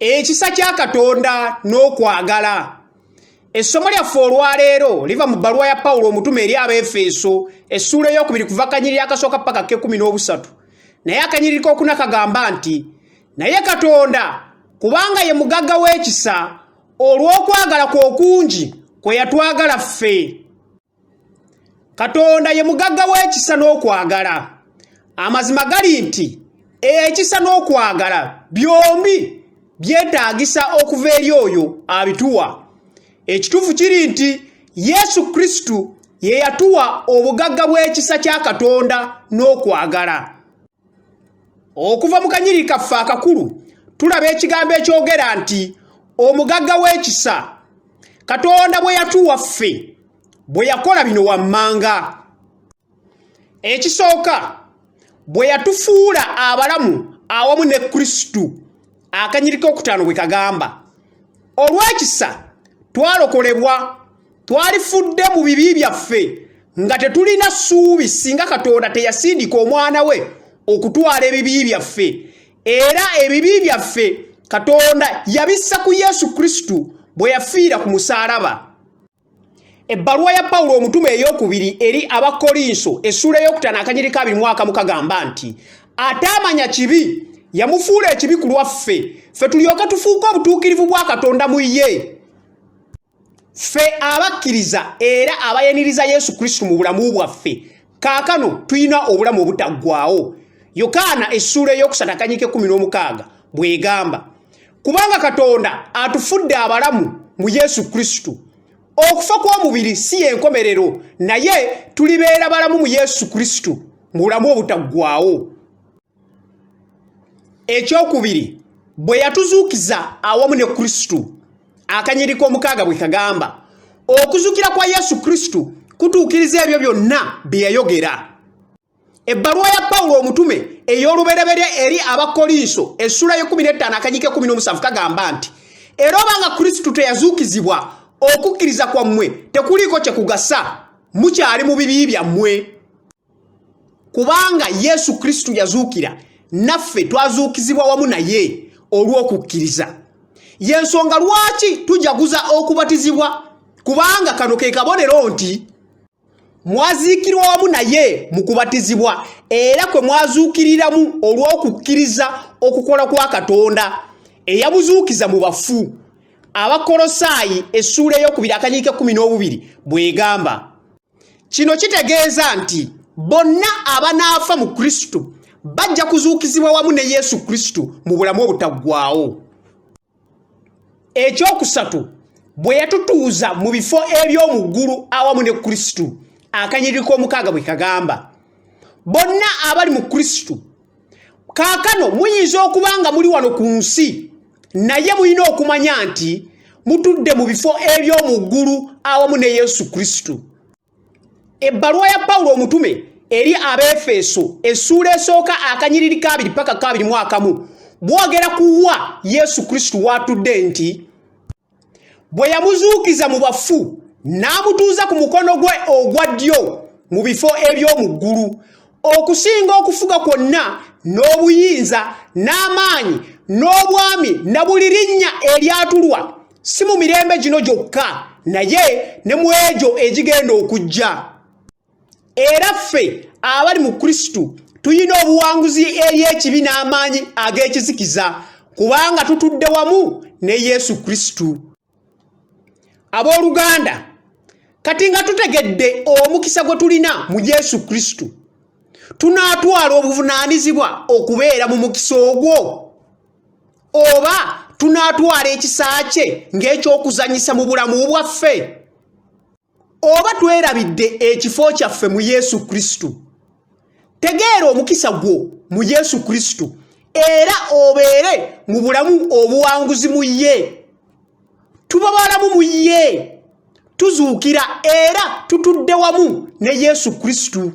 ekisa kya katonda n'okwagala essomo lyaffe olwaleero liva mu bbaluwa ya pawulo omutume eri abaefeeso essuula eyokubiri kuva kanyiriri akasooka paka kekumi n'obusatu naye akanyiriri kokuna kagamba nti naye katonda kubanga ye mugagga w'ekisa olw'okwagala kwe okungi kwe yatwagala ffe katonda ye mugagga w'ekisa n'okwagala amazima gali nti ekisa n'okwagala byombi byetaagisa okuva eri oyo abituwa ekituufu kiri nti yesu kristo ye yatuwa obugagga bw'ekisa kya katonda n'okwagala okuva mu kanyiri kaffe akakulu tulaba ekigambo ekyogera nti omugagga w'ekisa katonda bwe yatuwa ffe bwe yakola bino wammanga ekisooka bwe yatufuula abalamu awamu ne kristo akanyiriko okutaano bwe kagamba olw'ekisa twalokolebwa twalifudde mu bibi byaffe nga tetulina ssuubi singa katonda teyasindika omwana we okutwala ebibi byaffe era ebibi byaffe katonda yabissa ku yesu kristo bwe yafiira ku musaalaba ebbaluwa ya pawulo omutume ey'okubiri eri abakolinso essuula ey'okutaano akanyiri ka biri mwaka mukagamba nti ataamanya kibi yamufuula ekibi ku lwaffe ffe tulyoke tufuuke obutuukirivu bwa katonda mu ye ffe abakkiriza era abayaniriza yesu kristo mu bulamu bwaffe kaakano tulina obulamu obutaggwawo yokaana essuula ey'okusatu akanyika ekkumi n'omukaaga bw'egamba kubanga katonda atufudde abalamu mu yesu kristo okufa kw'omubiri si y'enkomerero naye tulibeera balamu mu yesu kristo mu bulamu obutaggwawo ekyokubiri bwe yatuzuukiza awamu ne kristo akanyiri k'omukaaga bwe kagamba okuzukira kwa yesu kristo kutuukiriza ebyo byonna bye yayogera ebbaluwa ya pawulo omutume ey'olubereberye eri abakolinso essula y'ekumi n'ettaano akanyika ekumi n'omusanvu kagamba nti era obanga kristo teyazuukizibwa okukkiriza kwammwe tekuliiko kye kugasa mukyali mu bibi byammwe kubanga yesu kristo yazuukira naffe twazuukizibwa wamu naye olw'okukkiriza yensonga lwaki tujaguza okubatizibwa kubanga kano ke kabonero nti mwaziikirwa wamu naye mu kubatizibwa era kwe mwazuukiriramu olw'okukkiriza okukola kwa katonda eyabuzuukiza mu bafu abakolosaayi essuula ey'okubiri akanyiika ekkumi n'obubiri bw'egamba kino kitegeeza nti bonna abanaafa mu kristo bajja kuzuukizibwa wamu ne yesu kristo mu bulamu obutaggwawo ekyokusatu bwe yatutuuza mu bifo eby'omu ggulu awamu ne kristo akanyiriko omukaaga bwe kagamba bonna abali mu kristo kaakano muyinza okuba nga muli wano ku nsi naye mulina okumanya nti mutudde mu bifo eby'omu ggulu awamu ne yesu kristo ebbaluwa ya pawulo omutume eri abeefeeso essuula esooka akanyiriri kabiri paka kabiri mu akamu bwogera kuwa yesu kristo waatudde nti bwe yamuzuukiza mu bafu n'amutuuza ku mukono gwe ogwa ddyo mu bifo eby'omu ggulu okusinga okufuga kwonna n'obuyinza n'amaanyi n'obwami na buli linnya eryatulwa si mu mirembe gino gyokka naye ne mu egyo egigenda okujja era ffe abali mu kristo tulina obuwanguzi eri ekibi n'amaanyi ag'ekizikiza kubanga tutudde wamu ne yesu kristo abooluganda kati nga tutegedde omukisa gwe tulina mu yesu kristo tunaatwala obuvunaanyizibwa okubeera mu mukisa ogwo oba tunaatwala ekisa kye ng'eky'okuzanyisa mu bulamu bwaffe oba twerabidde ekifo kyaffe mu yesu kristo tegeera omukisa gwo mu yesu kristo era obeere mu bulamu obuwanguzi mu ye tuba balamu mu ye tuzuukira era tutudde wamu ne yesu kristo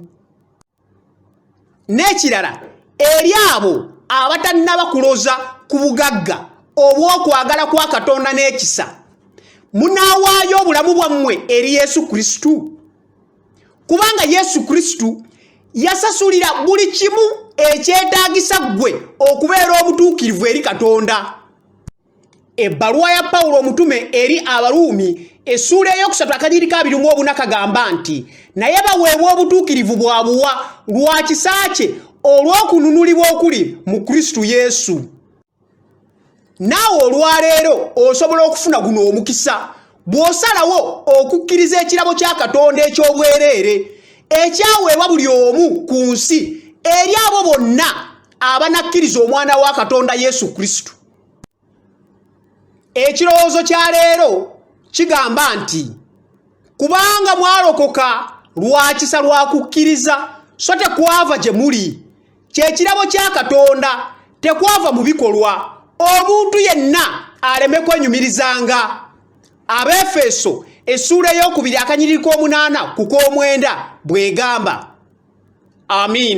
n'ekirala eri abo abatannaba kuloza ku bugagga obw'okwagala kwa katonda n'ekisa munaawaayo obulamu bwammwe eri yesu kristo kubanga yesu kristo yasasulira buli kimu ekyetaagisa ggwe okubeera obutuukirivu eri katonda ebbaluwa ya pawulo omutume eri abaruumi essuula eyokusatu akanyiri ka biri mu obuna kagamba nti naye baweebwa obutuukirivu bwa buwa lwa kisa kye olw'okununulibwa okuli mu kristo yesu naawe olwaleero osobola okufuna guno omukisa bw'osalawo okukkiriza ekirabo kya katonda eky'obwereere ekyaweebwa buli omu ku nsi eri abo bonna abanakkiriza omwana wa katonda yesu kristo ekirowoozo kya leero kigamba nti kubanga mwalokoka lwa kisa lwa kukkiriza so tekwava gye muli kyekirabo kya katonda tekwava mu bikolwa omuntu yenna aleme kwenyumirizanga abeefeeso essuula ey'okubiri akanyiriri k'omunaana ku k'omwenda bw'egamba amiina